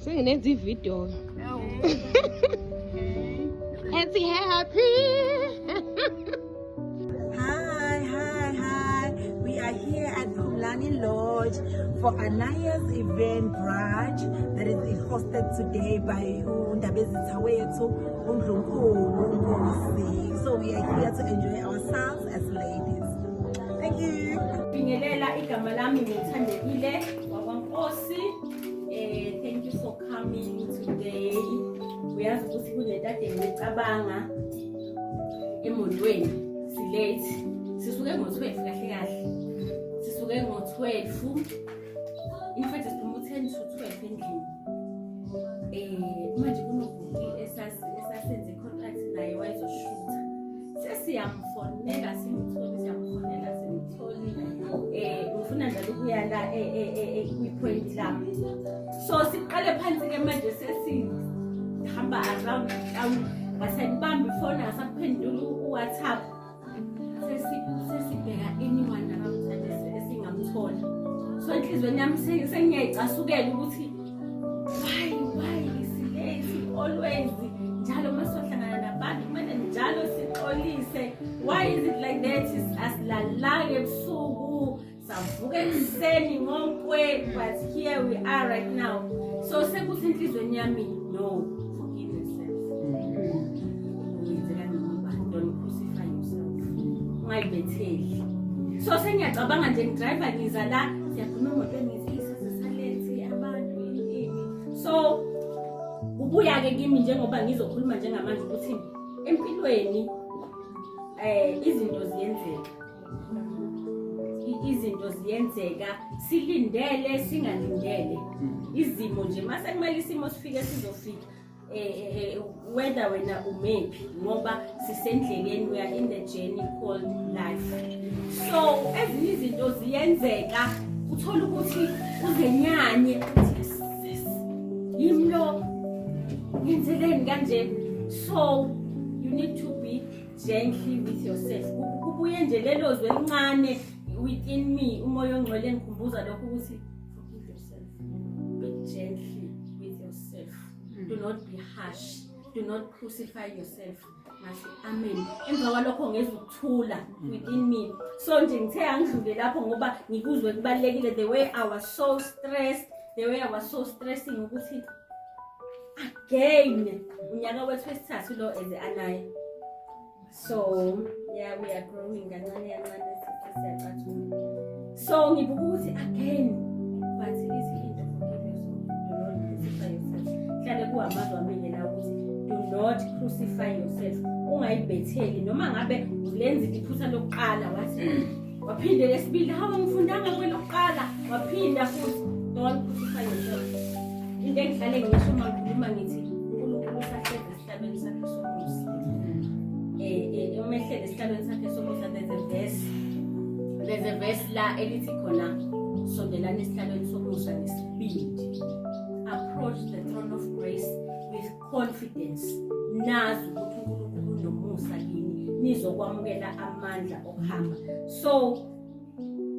Senginenza ivideo. Ethi happy. Hi, hi, hi. We are here at Pumlani Lodge for Anaya's event brunch that is hosted today by Undabezi Tawethu, Undlunkulu, Nkosi. So we are here to enjoy ourselves as ladies. Thank you. Bingelela igama lami ngithandekile wakwaNkosi. Eh thank you for coming today. Uyazi ukuthi kunento ade ngicabanga emotweni silate. Sisuke ngo-12 kahle kahle. Sisuke ngo-12. In fact siphuma u-10 to 12 endlini. Eh manje kunobhuti esase sesiyamfonela simtholi siyamfonela simtholi eh ngifuna njalo ukuya la eh, eh, eh, kwi-point lami so siqale phansi-ke manje sesihamba around town ngasakubamba ifoni asakuphendula uwhatsapp sesibheka anyone akamthandise esingamthola so enhliziyweni yami sengiyayicasukela ukuthi Why, why is late always? Njalo masohlangana nabantu kumele njalo sixolise. Why is it like that? Asilalanga ebusuku, savuka ekuseni ngonkwe, but here we are right now. So sekuthi inhlizweni yami no. Ungayibetheli. So sengiyacabanga nje ngidriver ngiza la siyakhuluma emotweni so ubuya-ke kimi njengoba ngizokhuluma njengamanje ukuthi empilweni um izinto ziyenzeka izinto ziyenzeka silindele singalindele izimo nje masekumele isimo sifike sizofika whether wena umephi ngoba sisendleleni we are in the journey called life so ezinye izinto ziyenzeka uthole ukuthi uzenyanye uthi yes yimi lo ngenzeleni kanje so you need to be gently with yourself kubuye nje lelo zwe elincane within me umoya ongcwele ngikhumbuza lokho ukuthi be gently with yourself mm. do not be harsh do not crucify yourself ngathi amen emva kwalokho ngeza ukuthula within me so nje ngithe angidlule lapho ngoba ngikuzwe kubalekile the way i was so stressed the way i was so stressing ukuthi again unyaka wethu wesithathu lo eze anaye so yeah we are growing kancane kancane siyacathula so ngibuka ukuthi again but izinto hlale kuhamazwa mina la ukuthi do not crucify yourself ungayibhetheli noma ngabe lenza iphutha lokuqala wathi waphinde lesibili hawu ngifundanga kwelokuqala waphinda futhi don't crucify yourself into engihlale ngisho uma ngikhuluma ngithi unkulunkulu usahlezi Esihlalweni sakhe sobukhosi. Eh eh umehlele esihlalweni sakhe sobukhosi there's a verse. There's a verse la elithi khona sondelana esihlalweni somusa nesibindi. Approach the throne of grace with confidence. Nazi ukuthi uNkulunkulu unomusa kini nizokwamukela amandla okuhamba. So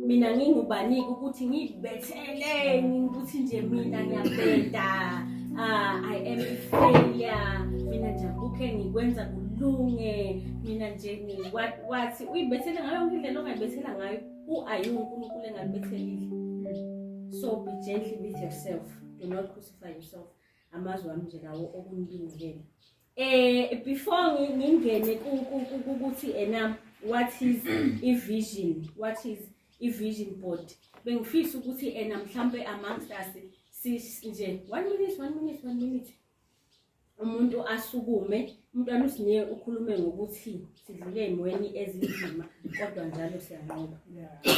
mina ngingubanike ukuthi ngibetheleni ukuthi nje mina ngiyabheda uh, i am a failure mina nje akukhe ngikwenza kulunge mina nje wathi uyibethele ngayo yonke indlela ongayibethela ngayo u-ayi unkulunkulu engalibethelile so be gently with yourself do not crucify yourself amazwi ami nje lawo okunibingelela Eh before ngingene ukuthi ena what is i vision what is i vision board bengifisa ukuthi ena mhlambe amongst us nje one minute one minute one minute umuntu asukume umntwana usinike ukhulume ngokuthi sidlule ey'mweni ezinzima kodwa njalo siyanqoba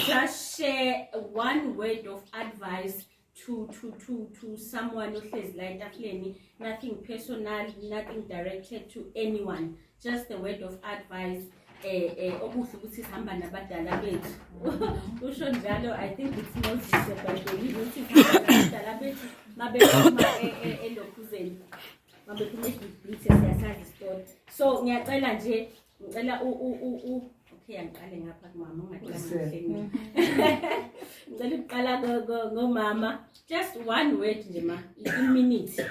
just share one word of advice to to to to someone ohlezi la etafuleni nothing personal nothing directed to anyone just a word of advice eh eh okuhle ukuthi sihamba nabadala bethu usho njalo i think it's not disebhayibheli ukuthi sihamba nabadala bethu mabephuma e, e, elokhuzeni mabephuma ebhibhithe siyasazi isitoti so ngiyacela nje ngicela u u u u okay angiqale ngapha kumama ungaqali mhm. ngicela ukuqala ngomama just one word nje ma i-minute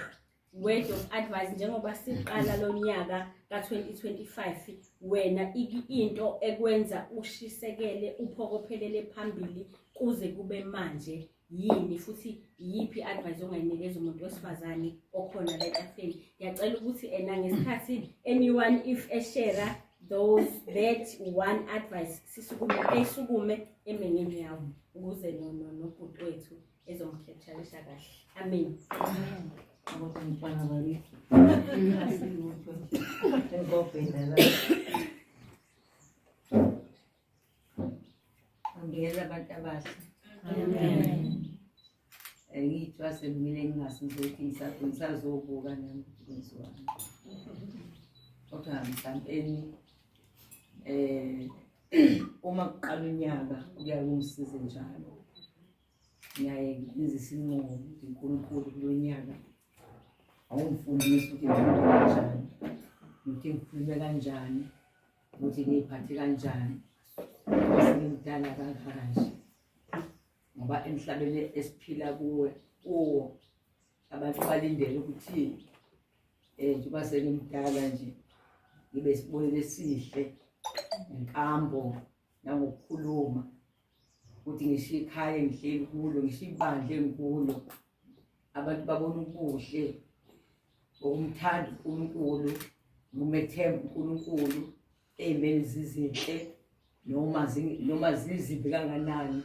word of advice njengoba siqala lo nyaka ka-2025 wena into ekwenza ushisekele uphokophelele phambili kuze kube manje yini futhi iyiphi i-advice ongayinikeza umuntu wesifazane okhona la etafeni ngiyacela ukuthi ena ngesikhathi anyone if eshera those that one advice sisukume esukume emengeni yawo ukuze nobhuti wethu ezomkhethalisha kahle amen Thank you. Ngiyela abantu abasha. Amen. Eh, Ngiyithiwa semile ngingasuze ukuthi ngisa- ngisazobuka nami ukuthi kwenziwani. Kodwa ngisampeni eh uma kuqala unyaka kuya kungisize njalo. Ngiyaye ngenze isinqumo ukuthi uNkulunkulu kulo nyaka awungifundisi ukuthi ngikhulume kanjani. Ngithi ngikhulume kanjani ukuthi ngiyiphathe kanjani ngimdala kangaka nje ngoba emhlabeni esiphila kuwe kuwo abantu balindele ukuthi um njengoba sengimdala nje ngibe sibonelo esihle ngenkambo nangokukhuluma ukuthi ngisho ikhaya engihleli kulo ngisho ibandla engikulo abantu babona ubuhle ngokumthanda uNkulunkulu ngumethemba uNkulunkulu ezimeni zizinhle noma noma zizimbi kanganani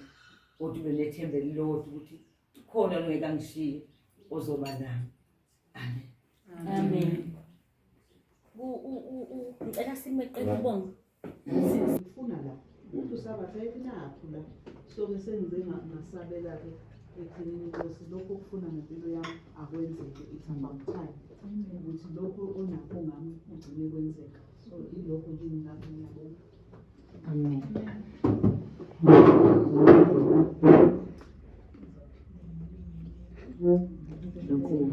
kodwa ube nethemba elilodwa ukuthi khona ongeke angishiye ozoba nami amen amen ngicela simeqele ubonga ngifuna la umuntu usabatha ekunapho la soke sengize ngasabela-ke ekugcineni nkosi lokhu okufuna ngempilo yami akwenzeke it's about time ukuthi lokhu onakho ngami kugcine kwenzeka so ilokho kimi lapho ngiyabona amen Thank you.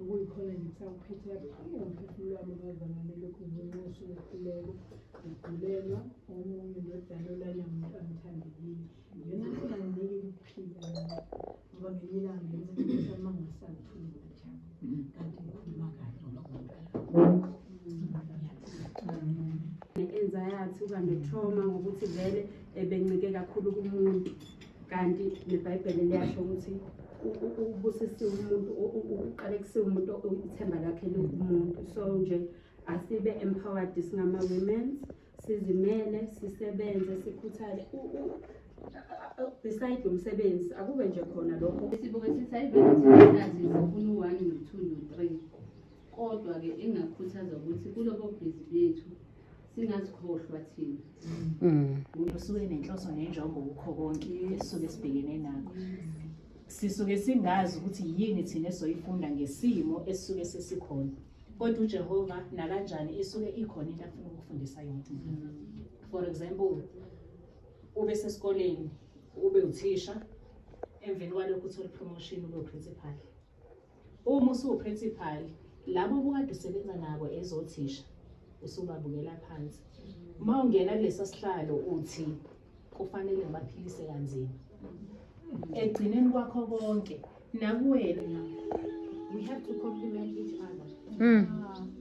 Okuyikhona nje kuthiwa kuphethe kabuhlungu umphefumulo wami bazama nilokhu nginxusha umehluleko ngigulelwa omunye ndodana olanya muntu angithandekile yona nginganginiki ukuphila ngoba ngenye ilanga ngenza izinto sami mangingasangithuli ngajaba kanti ngikhuluma kahle enza yathi uba ne-trauma ngokuthi vele ebencike kakhulu kumuntu kanti nebhayibheli liyasho ukuthi ubusisiwe umuntu uqale kusiwe umuntu ithemba lakhe likumuntu so nje asibe empowered singama-women sizimele sisebenze sikhuthale beside umsebenzi akube nje khona lokho sibuke sithi ayivelathi zifuna u-one no-two no-three kodwa-ke engakhuthaza ukuthi kulobo bhizi bethu singazikhohlwa thina mm. usuke nenhloso nenjongo kukho konke esisuke sibhekene nakho sisuke singazi ukuthi yini thina esoyifunda ngesimo esisuke sesikhona kodwa ujehova nakanjani isuke ikhona into afuna ukufundisa yona for example ube sesikoleni ube uthisha emveni kwalokho uthole ipromotion ube uprincipal Uma usuwuprincipali labo obukade usebenza nabo ezothisha usubabukela phansi uma ungena kulesa sihlalo uthi kufanele ngibaphilise kanzima ekugcineni kwakho konke nakuwena we have to compliment each other mm.